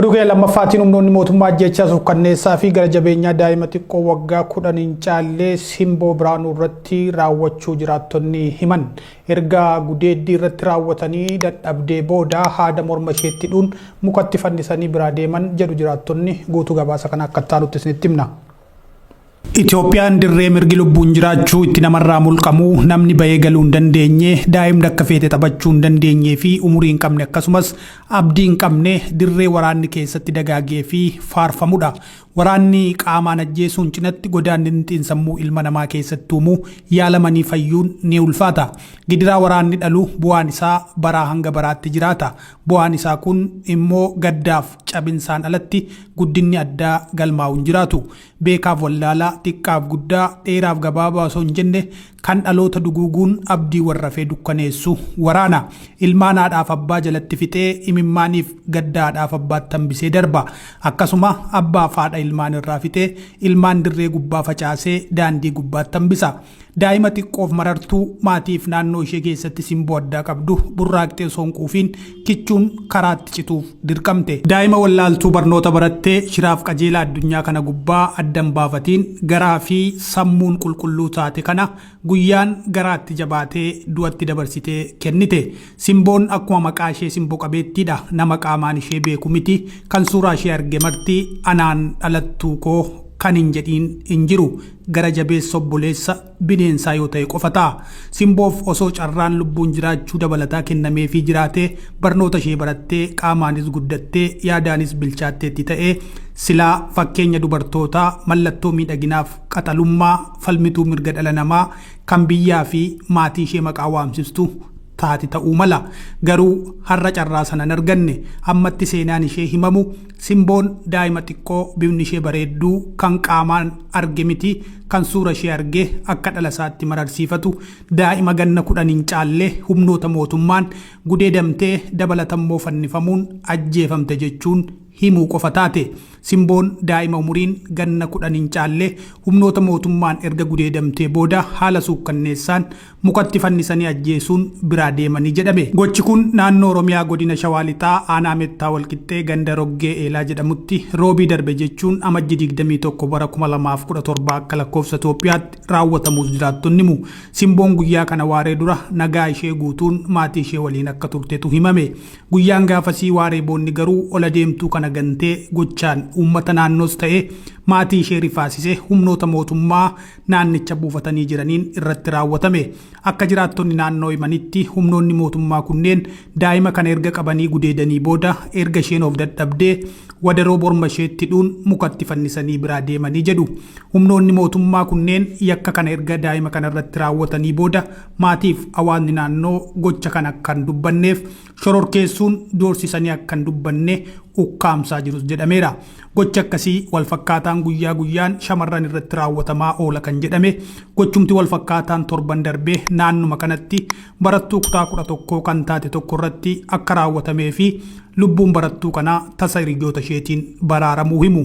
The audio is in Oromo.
Oduu keenya lammaffaatiin humnoonni mootummaa ajjechaa suukkanneessaa fi gara jabeenyaa daa'ima xiqqoo waggaa kudhan hin caallee simboo biraanuu irratti raawwachuu jiraattonni himan. Erga gudeeddii irratti raawwatanii dadhabdee booda haada morma isheetti hidhuun mukatti fannisanii biraa deeman jedhu jiraattonni guutuu gabaasa kana akka itti aanutti isinitti himna. Itoophiyaan dirree mirgi lubbuun jiraachuu itti namarraa mulqamu, namni bahee galuu hin dandeenye, daa'imni akka feete taphachuu hin dandeenyee fi umurii hin qabne akkasumas abdii hin qabne dirree waraanni keessatti dagaagee fi faarfamudha. Waraanni qaamaan ajjeesuun cinatti godaannitni xiinsammuu ilma namaa keessatti uumu yaalamanii fayyuun ni ulfaata. Gidiraa waraanni dhalu bu'aan isaa baraa hanga baraatti jiraata. Bu'aan isaa kun immoo gaddaaf cabinsaan alatti guddinni addaa galmaa'u hin jiraatu. Beekaaf wallaalaa, xiqqaaf guddaa, dheeraaf gabaabaa osoo hin jenne kan dhaloota duguuguun abdii warrafee dukkaneessu waraana. Ilmaan haadhaaf abbaa jalatti fixee imimmaaniif gadda haadhaaf abbaatti hambisee darba. Akkasuma abbaaf haadha ilmaan irraa fixee ilmaan dirree gubbaa facaasee daandii gubbaatti hambisa. Daa'ima xiqqoof marartuu maatiif naannoo ishee keessatti simboo addaa qabdu burraaqxee osoo hin quufiin kichuun karaatti cituuf dirqamte. Daa'ima wallaaltuu barnoota barattee shiraaf qajeelaa addunyaa kana gubbaa adda hin baafatiin garaa fi sammuun qulqulluu taate kana guyyaan garaatti jabaatee du'atti dabarsitee kennite. Simboon akkuma maqaa ishee simbo qabeettiidha. Nama qaamaan ishee beeku miti. Kan suuraa ishee arge marti anaan dhalattuu koo kan hin jedhiin hin jiru. Gara jabeessa obboleessa bineensaa yoo ta'e qofa ta'a. Simboof osoo carraan lubbuun jiraachuu dabalataa kennameefii jiraatee, barnoota ishee barattee, qaamaanis guddattee, yaadaanis bilchaatteetti ta'ee, silaa fakkeenya dubartootaa, mallattoo miidhaginaaf qaxalummaa, falmituu mirga dhala namaa, kan biyyaa fi maatii ishee maqaa waamsistu taati ta'uu mala. Garuu har'a carraa sana hin arganne. Ammatti seenaan ishee himamu Simboon daa'ima xiqqoo bifni ishee bareedduu kan qaamaan arge miti kan suura ishee argee akka dhala isaatti mararsiifatu daa'ima ganna kudhan hin caalle humnoota mootummaan gudeedamtee dabalatammoo fannifamuun ajjeefamte jechuun himuu qofa taate. Simboon daa'ima umuriin ganna 10 hin caalle humnoota mootummaan erga gudeedamtee booda haala suukkanneessaan mukatti fannisanii ajjeesuun biraa deemani jedhame. Gochi kun naannoo Oromiyaa godina Shawaa Lixaa aanaa Mettaa Walqixxee ganda Roggee Eelaa jedhamutti Roobii darbe jechuun Amajji 21 bara 2017 akka lakkoofsa Itoophiyaatti raawwatamuus jiraattonni himu. Simboon guyyaa kana waaree dura nagaa ishee guutuun maatii ishee waliin akka turtetu himame. Guyyaan gaafasii waaree boonni garuu ol adeemtuu kana gantee gochaan uummata naannoos ta'ee maatii ishee rifaasise humnoota mootummaa naannicha buufatanii jiraniin irratti raawwatame. Akka jiraattonni naannoo himanitti humnoonni mootummaa kunneen daa'ima kana erga qabanii gudeedanii booda erga isheen of dadhabdee wadaroo morma isheetti hidhuun mukatti fannisanii biraa deemanii jedhu. Humnoonni mootummaa kunneen yakka kana erga daa'ima kanarratti raawwatanii booda Maatiif hawaasni naannoo gocha kana akka hin dubbanneef shororkeessuun doorsisanii akka hin dubbanne ukkaamsaa jirus jedhameera. Gochi akkasii walfakkaataan guyyaa guyyaan shamarran irratti raawwatamaa oola kan jedhame gochumti walfakkaataan torban darbe naannuma kanatti barattuu kutaa 11 kan taate tokko irratti akka raawwatamee fi lubbuun barattuu kanaa tasa hiriyoota isheetiin baraaramuu himu.